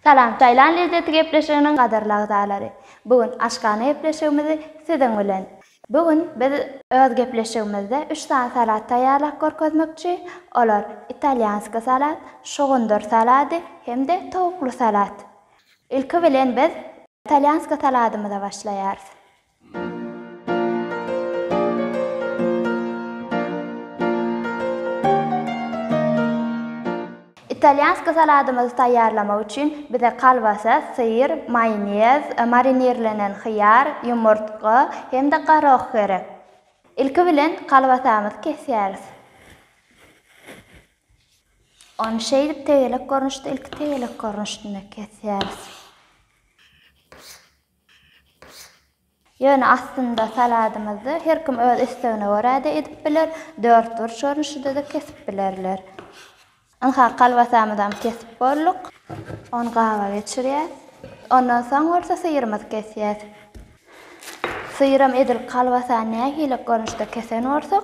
Salam Taýland lezzeti gepleşiginiň gadyrly agzalary! Bu gün aşhana gepleşigimizi siziň bilen. Bu gün biz öz gepleşigimizde üç sany salat taýýarlap görkezmekçi. Olar, italýanskiý salat, şugundyr salady hem-de towukly salat. Ilki bilen biz italýanskiý saladymyza başlaýarys. Italýanski saladymyzy taýýarlamak üçin bize kolbasa, syr, maýonez, marinirlenen hyýar, ýumurtga hem-de gorah gerek. Ilki bilen kolbasamyzy kesýäris. Ony şeýdip tegelek görnüşde, ilki tegelek görnüşinde kesýäris. Ýöne aslynda saladymyzda her kim öz islegine görä-de edip biler, dörtburç görnüşide-de kesip bilerler. Ynha, kolbasamyzam kesip bolduk. Ony gaba geçirýäs. Ondan soň bolsa syrymyzy kesýäs. Syram edil kolbasany nähili görnüşde kesen bolsak,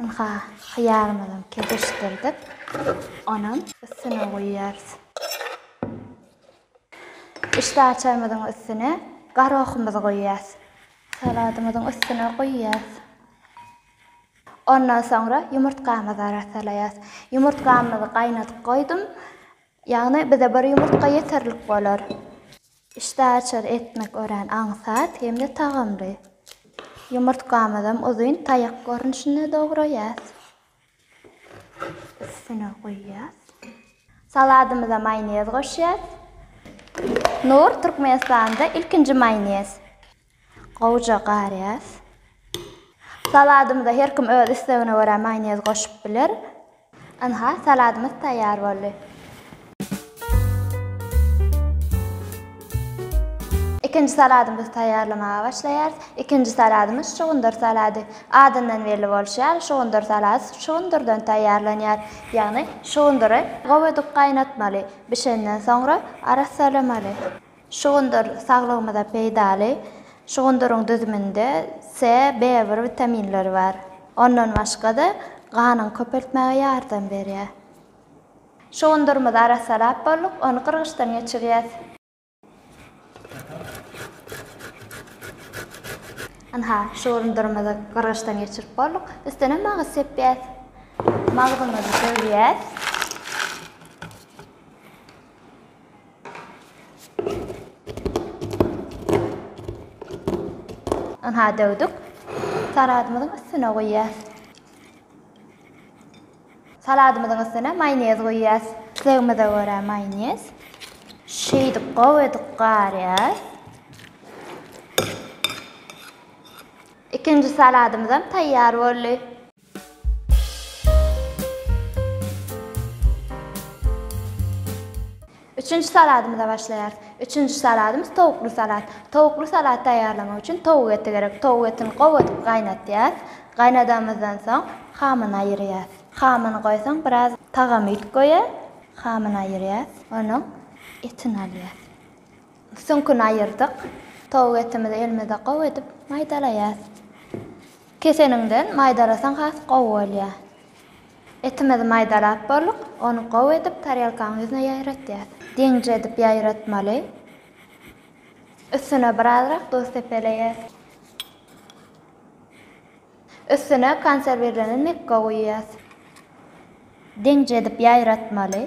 Ynha, hyýarymyzam kezişdirdik. Onam üstüne guýýarys. Işdäaçarymyzyň üstüne garohymyzy guýýarys. Saladymyzyň üstüne guýýarys. Ondan soňra ýumurtgamyzy arassalaýarys. Ýumurtgamyzy gaýnadyp goýdum. Ýagny bize bir ýumurtga ýeterlik bolar. Işdäaçar etmek örän aňsat hem-de tagamly. Ýumurtgamyzam uzyn taýak görnüşinde dograýas. Üstüne guýýas. Saladymyza maýonez goşýas. Nur, Türkmenistanda ilkinji maýonez. Gowja garýas. Saladymyza her kim öz islegine görä maýonez goşup biler. Ynha, saladymyz taýýar boldy. Ikinji saladymyzy taýýarlamaga başlaýarys. Ikinji saladymyz şugundyr salady. Adyndan belli bolşy ýaly, şugundyr salady şugundyrdan taýýarlanýar. Ýagny, şugundyry gowedik gaýnatmaly. Bişenden soňra arassalamaly. Şugundyr saglygymyza peýdaly. Şugundyryň düzüminde Se, Be bir witaminleri bar. Ondan başga-da, ganyňy köpeltmäge ýardam berýär. Şugundyrymyzy arassalap bolduk, ony gyrgyçdan geçirýäs. Ynha, şugundyrymyzy gyrgyçdan geçirip bolduk. Üstüne magyz sepýäs. Magzymyzy döwýäs. Ynha döwdük. Saladymyzyň üstüne goýýas. Saladymyzyň üstüne maýonez goýýas. Islegimize görä maýonez. Şeýdip gowy edip garýas. Ikinji saladymyz hem taýýar boldy. Üçünji saladymyza başlaýarys. Üçünji saladymyz towukly salat. Towukly salat taýýarlamak üçin towuk eti gerek. Towuk etini gowy edip gaýnadýarys. Gaýnadamyzdan soň hamyny aýyrýarys. Hamyny goýsaň biraz tagamy it goýar. Hamyny aýyrýarys. Onuň etini alýarys. Süňküni aýyrdyk. Towuk etimizi elimizde gowy edip maýdalaýas. Keseniňden maýdalasaň has gowy bolýar. Etimizi maýdalap bolduk, ony gowy edip tarelkanyň ýüzüne ýaýratýas. Deňje edip ýaýratmaly. Üstüne birazrak duz sepeleýäs. Üstüne konserwirlenen mekge guýýas. Deňje edip ýaýratmaly.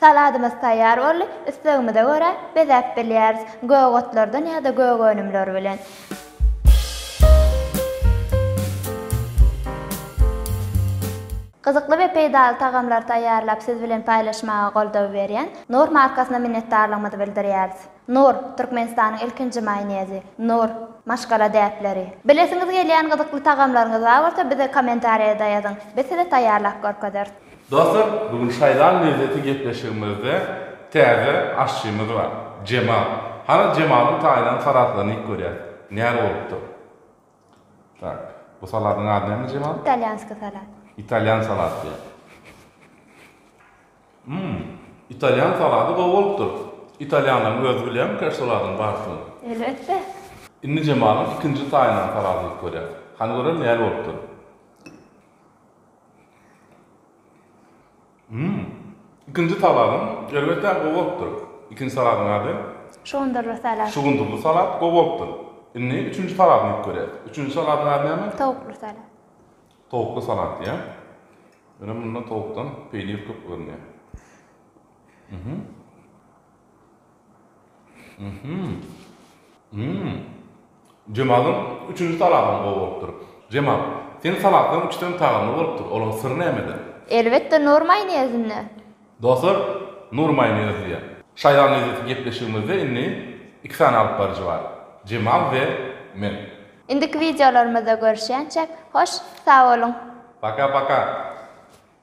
Saladymyz taýýar boldy, islegimize görä bezäp bilýäris, gök otlardan ýa-da gök önümler bilen. Gyzykly we peýdaly tagamlary taýýarlap siz bilen paýlaşmaga goldaw berýän Knorr markasyna minnetdarlygymyzy bildirýäris. Knorr, Türkmenistanyň ilkinji maýonezi. Knorr, maşgala däpleri. Bilesiňiz gelýän gyzykly tagamlaryňyz bar bolsa bize kommentariýada ýazyň, biz size taýýarlap görkezeris. Dostlar, bu gün şaýlan lezzeti gepleşigimizde täze aşçymyz bar, Jemal. Hany Jemalyň taýynan salatlaryny iýip görýäs, näre bolupdyr. Tak, bu salatyň ady näme Jemal? Italýanskiý salat. Italýan salat diýýär. Hum, italýan salaty gowy bolupdyr. Italýanlaryň özi bilýärmi kä şu salatyň bardygyny? Elbetde. Indi Jemalyň ikinji taýynan salatyny iýip görýäs. Hany görelim näle bolupdyr. Ikinji saladyň elbetde gowy bolupdyr. Ikinji saladyň ady? Şugundyrly salat. Şugundyrly salat gowy bolupdyr. Indi üçünji saladyny iýip görýäs. Üçünji saladyň ady näme? Towukly salat. Towukly salat diýýä. Ýöne munda towukdan peýnir köp görünýä. Jemalyň üçünji salatam gowy bolupdyr. Jemal, seň salatlaň üçdem tagamly bolupdyr, olaň syry nämede? Elbetde nur maýonezinde. Dostlar, nur maýonez diýýär. Şaýlan lezzeti gepleşigimizde indi iki sany alyp baryjy bar, Jemal we men. Indiki wideolarymyzda görüşýänçä, hoş sag boluň! Paka paka!